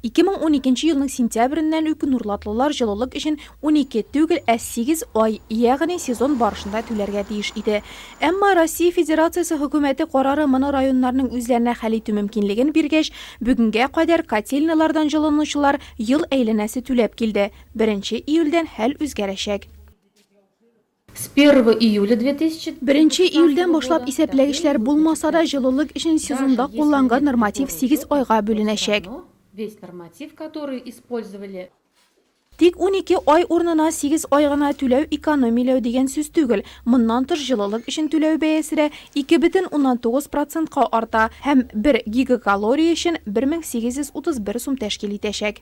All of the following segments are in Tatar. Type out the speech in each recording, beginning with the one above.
2012 елның сентябреннән үк нурлатлылар җылылык өчен 12 түгел, ә 8 ай, ягъни сезон барышында түләргә тиеш иде. Әмма Россия Федерациясе хөкүмәте карары моны районнарның үзләренә хәл итү мөмкинлеген биргәч, бүгенгә кадәр котельнялардан җылынучылар ел әйләнәсе түләп килде. Беренче июльдән хәл үзгәрәчәк. С первого июля 2000. Беренче июльдән башлап исәпләгечләр булмаса да, җылылык өчен сезонда кулланган норматив сигез айга бүленәчәк. Весь норматив, который использовали. Тик унике ай урынына сигез ай гына түләү экономияләү дигән сүз түгел. Моннан тыш, җылылык өчен түләү бәясе дә ике бөтен уннан тугыз процентка арта һәм бер гигакалория өчен 1831 сум тәшкил итәчәк.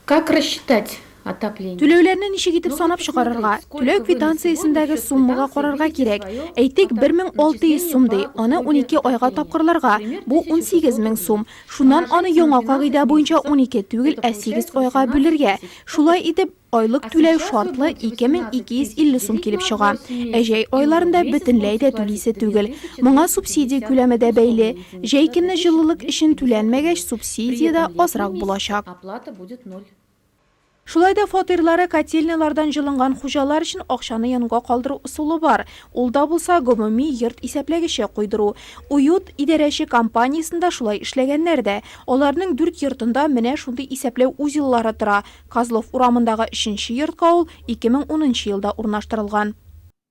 Как рассчитать отопление? Түләүләрне ничек итеп санап чыгарырга? Түләү квитанциясендәге суммага карарга кирәк. Әйтик, 1600 сум ди, аны унике айга тапкырларга, бу унсигез мең сум. Шуннан аны яңа кагыйдә буенча унике түгел, ә сигез айга бүлергә. Шулай итеп, айлык түләү шартлы 2250 сум килеп чыга. Ә җәй айларында бөтенләй дә түлисе түгел. Моңа субсидия күләме дә бәйле. Җәй көнне җылылык өчен түләнмәгәч, субсидия дә азрак булачак. Шулай да фатирлары котельнялардан җылынган хуҗалар өчен акчаны янга калдыру ысулы бар. Ул да булса, гомуми йорт исәпләгече куйдыру. Уют идарәче компаниясендә шулай эшләгәннәр дә. Аларның дүрт йортында менә шундый исәпләү узеллары тора. Козлов урамындагы өченче йортка ул ике мең унынчы елда урнаштырылган.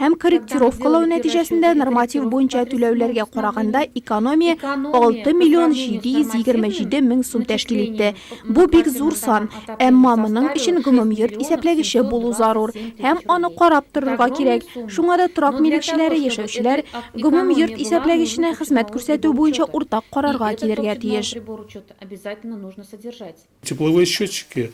һәм корректировкалау нәтиҗәсендә норматив буенча түләүләргә караганда экономия 6 миллион 727 мең сум тәшкил итте. Бу бик зур сан, әмма моның өчен гомумйорт исәпләгече булу зарур һәм аны карап торырга кирәк. Шуңа да торак милекчеләре, яшәүчеләр гомумйорт исәпләгеченә хезмәт күрсәтү буенча уртак карарга килергә тиеш. Тепловые счетчики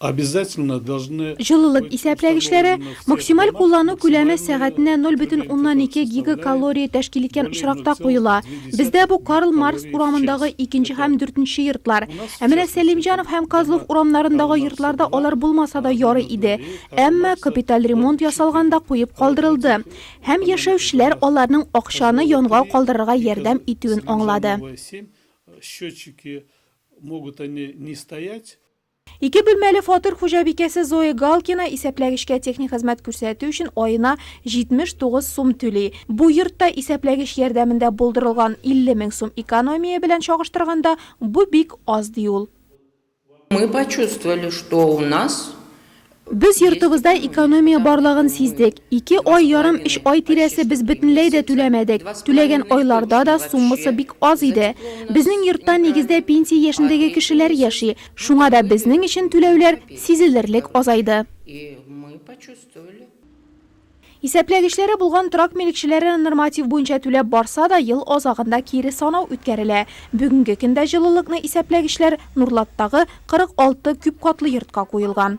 обязательно должны. Җылылык исәпләгечләре, максималь куллану күләме сәгатенә ноль бөтен уннан ике гигакалория тәшкил иткән очракта куела. Бездә бу Карл Маркс урамындагы икенче һәм дүртенче йортлар. Ә менә Сәлимҗанов һәм Козлов урамнарындагы йортларда алар булмаса да ярый иде. Әмма капиталь ремонт ясалганда куеп калдырылды. Һәм яшәүчеләр аларның акчаны янга калдырырга ярдәм итүен аңлады. Тепловые семь счетчики Могут они не стоять. Ике бүлмәле фатир хуҗабикәсе Зоя Галкина исәпләгечкә техник хезмәт күрсәтү өчен аена 79 сум түли. Бу йортта исәпләгеч ярдәмендә булдырылган 50 мең сум экономия белән чагыштырганда, бу бик аз, ди ул. Мы почувствовали, что у нас Без йортыбызда экономия барлыгын сиздек. Ике ай ярым, өч ай тирәсе без бөтенләй дә түләмәдек. Түләгән айларда да суммасы бик аз иде. Безнең йортта нигездә пенсия яшендәге кешеләр яши, шуңа да безнең өчен түләүләр сизелерлек азайды. Исәпләгечләре булган торак милекчеләре норматив буенча түләп барса да, ел азагында кире санау үткәрелә. Бүгенге көндә җылылыкны исәпләгечләр Нурлаттагы 46 күпкатлы йортка куелган.